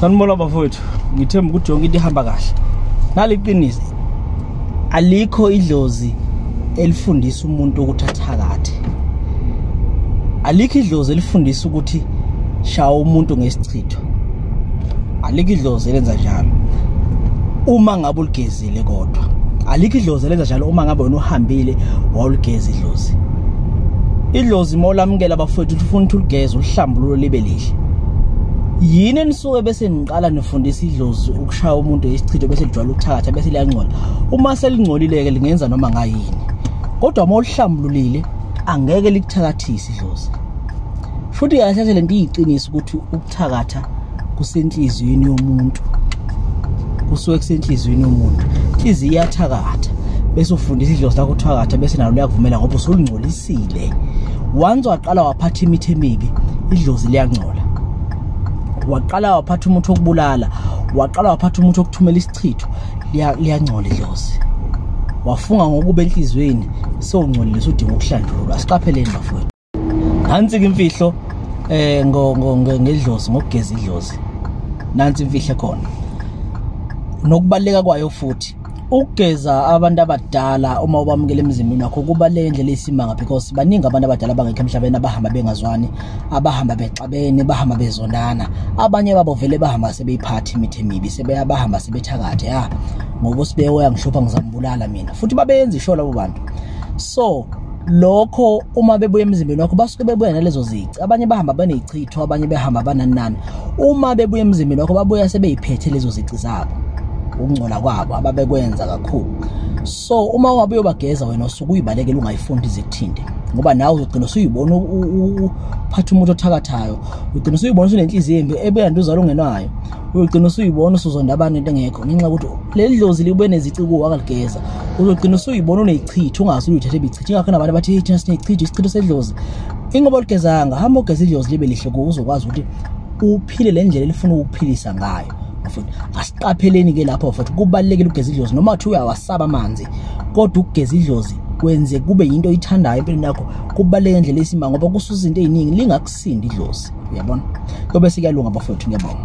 sanibona bafowethu ngithemba ukuthi yonke into ihamba kahle naliqiniso alikho idlozi elifundisa umuntu ukuthi athakathe alikho idlozi elifundisa ukuthi shawa umuntu ngesichitho alikho idlozi elenza njalo uma ngabe uligezi Zile kodwa. Alikho idlozi lenza njalo uma ngabe wena uhambile wawuligeza idlozi. Idlozi molamukela bafowethu ufuna ukuthi uligeze uhlambululo libe lihle. yini enisuke bese niqala nifundisa idlozi ukushaya umuntu isichitho bese lijwala ukuthakatha bese liyangcola uma selingcolile-ke lingenza noma ngayini kodwa uma ulihlambululile angeke likuthakathise idlozi futhi kahle kahle le nto iyiqiniso ukuthi thakatha kusenhliziyweni yomuntu kusuke kusenhliziyweni yomuntu inhliziyo iyathakatha bese ufundisa idlozi lakho uthakatha bese nalo liyakuvumela ngoba usulingcolisile once waqala waphatha imithi emibi idlozi liyangcola waqala waphatha umuthi wokubulala waqala waphatha umuthi wokuthumela isichitho liyangcola idlozi wafunga ngokuba enhliziyweni sewungcolile sudinga ukuhlanjululwa siqapheleni bafowethu nansi-ke imfihlo eh ngedlozi ngokugeza idlozi nansi imfihlo khona nokubaleka kwayo futhi ukugeza abantu abadala uma ubamukela emzimbeni wakho kuba le ndlela isimanga because baningi abantu abadala abangekho emhlabeni abahamba bengazwani abahamba bexabene bahamba bezonana abanye babo vele bahamba sebeyiphathi imithi emibi sebeyabahamba sebethakathe ya ngoba usibewe yangihlupha ngizambulala mina futhi babeyenza isho labo bantu so lokho uma bebuya emzimbeni wakho basuke bebuya nalezo zici abanye bahamba banezichitho abanye behamba bananani uma bebuya emzimbeni wakho babuya sebeyiphethe lezo zici zabo ukungcola kwabo ababekwenza kakhulu so uma ungabe uyobageza wena usuke uyibalekela ungayifundi izikuthinte ngoba nawe uzogcina usuyibona uphatha umuntu othakathayo ugcina usuyibona usunenhliziyo embi ebuya nduzalo ungenayo uyogcina usuyibona usuzonda abantu into engekho ngenxa yokuthi leli dlozi libe nezici kuwo akaligeza uzogcina usuyibona uneyichitha ungazi uyithathe ibichitha ingakho nabantu abathi hey thina sineyichitha isichitho sedlozi ingoba oligezanga hamba ogeza idlozi libe lihle kuwo uzokwazi ukuthi uphile le ndlela elifuna ukuphilisa ngayo futhi asiqapheleni ke lapho futhi kubalekile ukugeza idlozi noma uthi uyawasaba amanzi kodwa ukugeza idlozi kwenze kube yinto oyithandayo empilweni yakho kubaleke indlela esimanga ngoba kusuza into eziningi lingakusindi idlozi uyabona kobe sikuyalunga bafowethu ngiyabonga